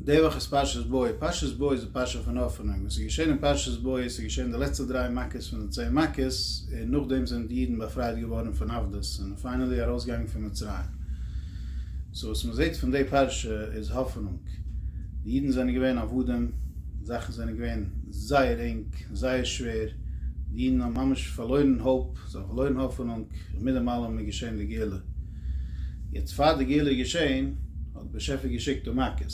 די וואך איז פרשת בוא, פרשת בוא איז די פרשה פון האפענונג, וואס איז געשען אין פרשת בוא איז ס'איז געשען די לעצטע דריי מכות פון די צען מכות, און נאכדעם זענען די אידן באפרייט געווארן פון עבדות, זענען פיינעלי ארויסגעגאנגען פון מצרים, סאו וואס מען זעט פון די פרשה איז האפענונג, די אידן זענען געווען עבדים, זאכן זענען געווען זייער ענג, זייער שווער, די אידן האבן ממש פארלוירן האופ, זיי האבן פארלוירן האפענונג, און מיט דעם אלעם איז געשען די גאולה, יעצט פאר די גאולה איז געשען, האט באשעפער געשיקט די מכות,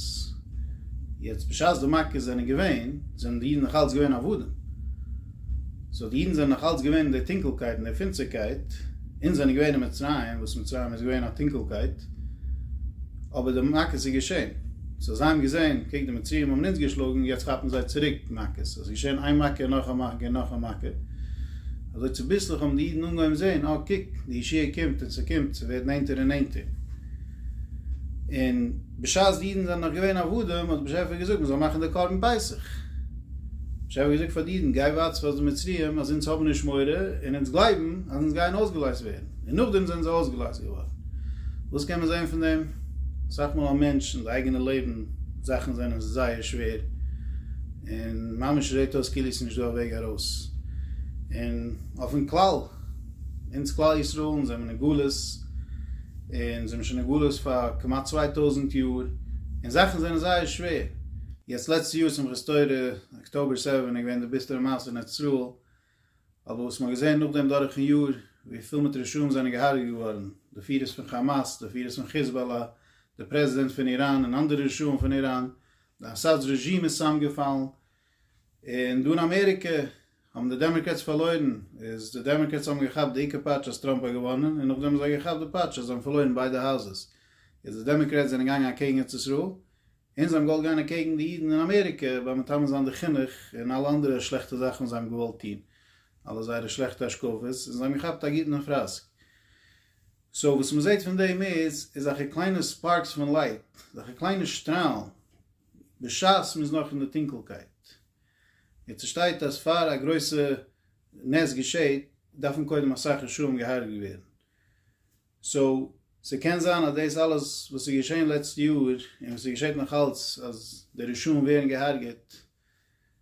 יעצט בשעת די מכות זענען געווען, זענען די אידן נאך אלץ געווען עבדים, סאו די אידן זענען נאך אלץ געווען אין די טונקלקייט און די פינסטערקייט, אונז זענען געווען אין מצרים, וואס מצרים איז געווען א טונקלקייט, אבער די מכות איז געשען, סאו זיי האבן געזען, קוק די מצרים האבן אונז געשלאגן, יעצט כאפן זיי צוריק מכות, עס איז געשען איין מכה און נאך א מכה און נאך א מכה, אזוי צוביסלעך האבן די אידן אנגעהויבן זען, אה קוק, די ישועה קומט און ס'קומט, ס'ווערט נענטער און נענטער. און בשעת די אידן זענען נאך געווען עבדים האט דער באשעפער געזאגט מען זאל מאכן די קרבן פסח, באשעפער האט געזאגט פאר די אידן גיי ווארטס פאר די מצריים אז אונז האבן נישט מורא און אונז גלייבן אז אונז גייען אויסגעלייזט ווערן, און נאכדעם זענען זיי אויסגעלייזט געווארן. וואס קען מען זען פון דעם? אסאך מאל א מענטש אין די אייגענע לעבן זאכן זענען זייער שווער און ממש זעט אויס כאילו עס איז נישט דא א וועג ארויס, און אויפן כלל, אונז כלל ישראל אונז זעמער אין גלות און זעמער שוין אין גלות פאר כמעט צוויי טויזענט יאר און זאכן זענען זייער שווער יעצט לעצטע יאר שמחת תורה אקטאבער סעווען איז געווען די ביסטערע מעשה אין ארץ ישראל אבער וואס מען האט געזען נאכדעם דורכן יאר ווי פיל מיט רשעים זענען געהארגעט געווארן די פירערס פון כאמאס די פירערס פון חיזבאלא די פרעזידענט פון איראן און אנדערע רשעים פון איראן די אסאד רעזשים איז צוזאמגעפאלן און דא אין אמעריקע האבן די דעמעקרעטס פארלוירן, איז די דעמעקרעטס האבן געכאפט די עיקר פאטש אז טראמפ האט געוואנען, און נאכדעם האבן זיי געכאפט די פאטש אז זיי האבן פארלוירן ביידע האוזעס, איז די דעמעקרעטס זענען געגאנגען אקעגן ארץ ישראל, און זיי האבן געוואלט גיין אקעגן די אידן אין אמעריקע ביים מטמא זיין די חינוך און אלע אנדערע שלעכטע זאכן וואס זיי האבן געוואלט טון, אלע זייערע שלעכטע השקפות, און זיי האבן געכאפט א גוטן פראסק. סאו וואס מ'זעט פון דעם איז, איז אזעלכע קליינע ספארקס פון לייט, אזעלכע קליינע שטראלן, בשעת מ'איז נאך אין די טונקלקייט. און ס'שטייט אז פאר א גרויסע נס געשעהט דארפן קודם אסאך רשעים געהרג'ט ווערן. סאו, ס'קען זיין אז דאס אלעס וואס איז געשעהן לעצטע יאר, און וואס ס'געשעהט נאך אלץ, אז די רשעים ווערן געהרג'עט,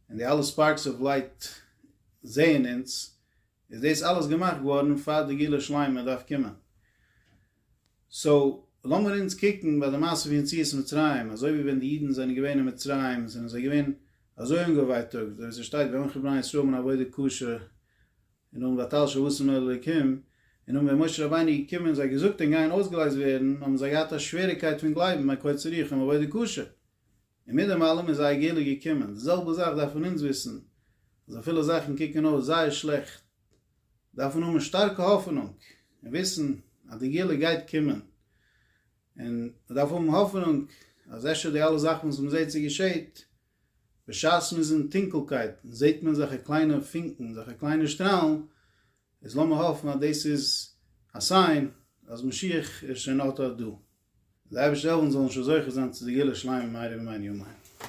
און די אלע ספארקס אוו לייט זעהן אונז, איז דאס אלעס געמאכט געווארן פאר די גאולה שלימה דארף קומען. סאו לאמיר אונז קוקן ביי די מעשה פון יציאת מצרים, אזוי ווי ווען די אידן זענען געווען אין מצרים זענען זיי געווען אזוי אנגעווייטאגט, אזוי ווי ס'שטייט ואנכי בני ישראל מן עבודה קשה און האבן באטאלט שבטים אל אלוקים, און נאך ווען משה רבינו איז געקומען און זיי געזאגט און גייען אויסגעלייזט ווערן האבן זיי געהאט א שוועריקייט פון גלייבן ביי קוצר רוח און עבודה קשה. און מיט דעם אלעם איז זייער גאולה געקומען. די זעלבע זאך דארף מען אונז וויסן, אז אפילו זאכן קוקן אויס זייער שלעכט, דארף מען האבן שטארקע האפענונג, און וויסן אז די גאולה גייט קומען, און מען דארף האבן האפענונג אז אפשר די אלע זאכן וואס מען זעט ס'געשעהט, בשעת מ'איז אין טונקלקייט זעט מען אזעלכע קליינע פונקן, אזעלכע קליינע שטראלן, איז לאמיר האפן אז דאס איז א סיין אז משיח איז שוין אט אט דא. דער אייבערשטער העלף אונז זאלן שוין זוכה זיין צו די גאולה שלימה מהרה בימינו אמן.